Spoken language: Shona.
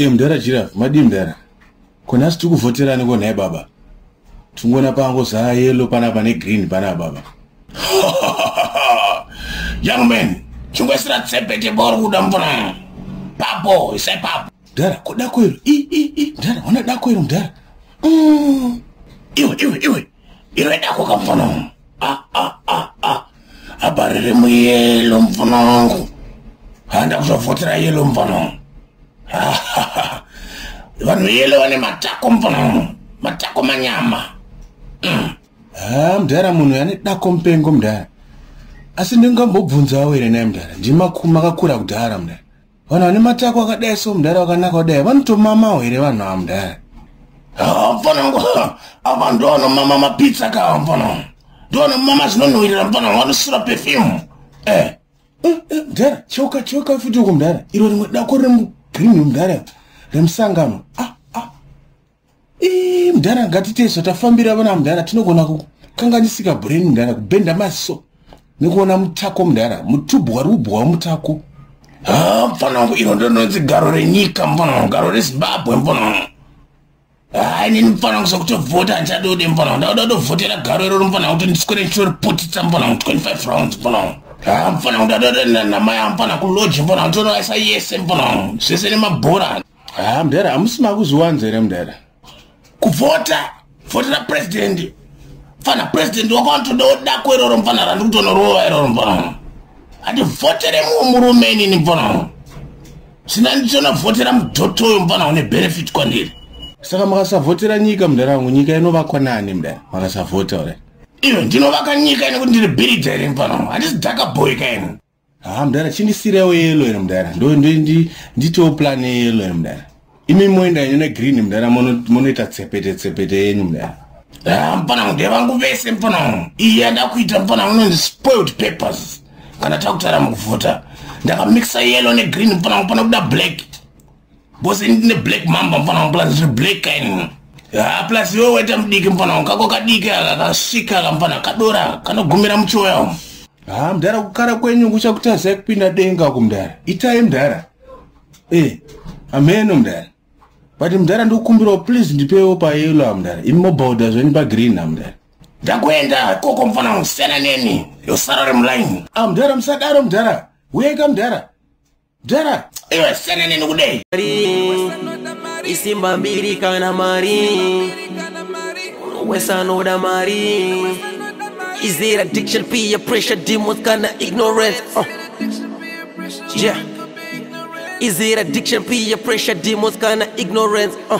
e mudhara giraf madii mudhara konasi tiri kuvhotera aniko nhai baba tingona pango zaa yelo panapa negreen panapa baba young man chingoisira tsepete bori kuda mvura papo isai papo mudhara kodako iro i i i mudhara wana dako iro mudhara mm. iwe iwe iwe iwe dako kamfana wangu ah, ah, ah, ah. abarire muyelo mfana wangu handa kuzovhotera yelo mfana wangu vanhu yelo vane matako mfana wangu matako manyama mm. ah, mdara munhu yane dako mpengo mdara asi ndingambobvunzawo here naye mdara ndimakuma akakura kudhara mdara vanhu vane matako akadai so mudhara wakanaka kudai vanotomamawo here vanhu ava mudhara mfana wangu apa ndoanomama mapitsa kawa mfana wangu ndoanomama zvinonhuwirira mfana wangu anosura pefyumu eh. eh, eh, mudhara choka choka futi uko mudhara iro rimwe dako riri mugreen mudhara remusangano ah. mudhara ngatiteso tafambira vana mudhara tinogona kukanganisika brain mudhara kubhenda maziso nekuona mutako mudhara mutubhu wari kubhuwa mutako ha mfana wangu iro ndononzi garo renyika mfana wangu garo rezimbabwe mfana wangu ha inini mfana wangu sokutovhota handichadode mfana wangu ndakuda kutovhotera garo iroro mfana wangu kuti ndiswere ndichoriputitsa mfana wangu 25 rounds mfana wangu ha mfana wangu ndadoda namaya mfana kuloji mfana wangu tonoaisa yese mfana wangu zvese nemabhora haa ah, mdara hamusi makuzviwanza here mdara kuvhota vhotera purezidendi mfana purezidendi wako anotoda odako iroro mfana randi kutonorova iroro mfana handi vhotere mumwe murume inini mfana sina nditona vhotera mudhoto uyo mfana une benefit kwandiri saka makasavhotera nyika mdara wangu nyika inovakwa nani mdara makasavhota ure iyo ndinovaka nyika ine kuti ndiri bhiridha here mfana handisi dhaka boy kaini haa ah, mudhara chindisirewo yelo ere mudhara nditiwo plan yeyelo ere mudhara imi moenda ine negreen mudhara monoita tsepete tsepete yenyu mudhara haa ah, mpana mude vangu vese mpana iyi yandakuita mpana unonzi spoiled papers kana takutara mukuvhota ndakamixa yelo negreen mpana mpana kuda black bcause ini ndine black mamba mfana wangu plus ndine black kaini ha plus iwe waita mudiki mfana wangu kako kadiki aka kasvika ka mfana kadora kanogumira muchoya umu ha mdara kukara kwenyu kuchakutazai kupinda denga ku mdara itai mdara e eh, ameno mdara but mdara ndikukumbirawo please ndipewo payelo amdara imi mobhauda zveni pagreen amdara ndakuenda koko mfana wangu siyana neni yosara ri mulaini amdara ah, musadaro mdara uyeka mdara Dara, iwe sene nini kudei? Isimba mbiri kana mari Wesa noda mari Is it addiction, peer pressure, demons kana ignorance? Uh. Yeah Is it addiction, peer pressure, demons kana ignorance? Uh.